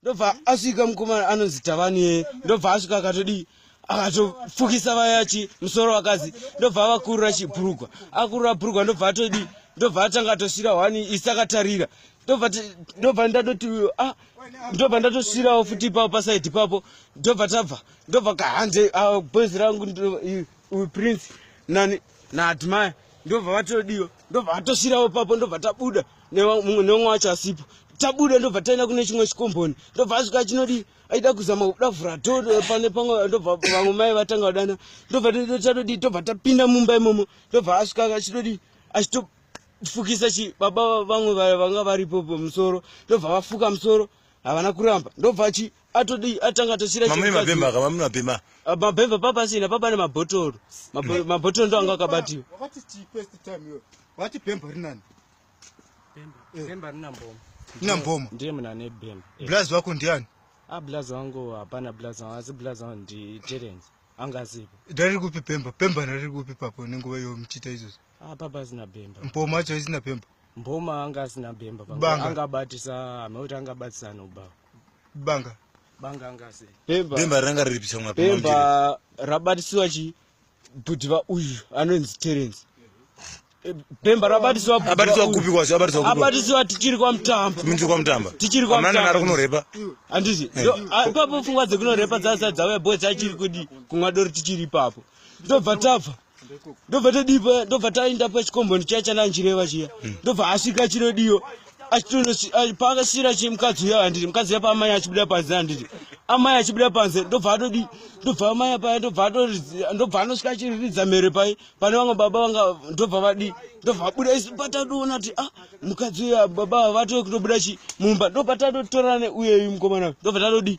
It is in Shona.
ndobva asvika mukomana anonzi tavanie ndobva asvika akatodii akatofukisa vayachi musoro vakadzi ndobva avakurura chibhurugwa akurura bhurugwa ndobva atodii ndobva atanga atosvira wani isi akatarira ndobva ndatoti uyo a ah, ndobva ndatosvirawo futi ipapo pasaidi ipapo ndobva tabva ndobva kahande ah, boys rangu prince nani naadmire ndobva vatodiwa ndobva vatosvirawo papo ndobva tabuda mumwe neumwe wacho asipo tabuda ndobva taenda kune chimwe chikomboni ndobva asvika chinodii aida kuzama kuda vhura to eh, pane pamwe ndobva vamwe mai vatanga kudana ndobva tatodii tobva tapinda mumba imomo ndobva asvika achitodii achitofukisa chi baba vamwe vanga varipo pamusoro ndobva vafuka musoro havana kuramba ndobva chi atodii atanga atosira mamune mabhemba ka mamune mabhemba ah, mabhemba papa asina papa ne mabhotoro mm. mabhotoro ndo anga akabatiwa wakati chi first time yo wati bhemba rinani bhemba eh. bhemba rina mboma rina mboma ndiye mna ne bhemba eh. blaz wako ndiani a ah, blaz wangu hapana blaz wangu asi blaz wangu ndi terence anga asipo dari kupi bhemba bhemba nari kupi papo nenguva yo mchita izvozvo a ah, papa asina bhemba mboma acho isina bhemba mboma anga asina bhemba anga abatisa ameuti anga abatisa anobhawa banga banga ngase bemba bemba ranga riri picha mwa bemba rabatisiwa chi bhuti va uyu anonzi terence bemba rabatisiwa abatisiwa kupi kwasi abatisiwa kupi abatisiwa tichiri kwa mtamba tichiri kwa mtamba tichiri kwa mtamba nari kunorepa andisi eh. ah, ipapo pfungwa dzekunorepa dzasa dzauya boys achiri kudi kunwa doro tichiri ipapo ndobva tabva ndobva todipa ndobva taenda pachikomboni chiya chananjireva chiya hmm. ndobva asvika chinodiyo paakasira chi mukadzi uya handiti mukadzi uya paamai achibuda panze handiti amai achibuda panze ndobva atodi ndobva amai paya ndobva ndobva anosvika achiriridza mhere pai pane vamwe baba vanga ndobva vadi ndobva abuda isu patatoona kuti a ah, mukadzi uya baba vatove kutobuda chi mumba ndobva tatotorane uyeyu mukomana ndobva tatodi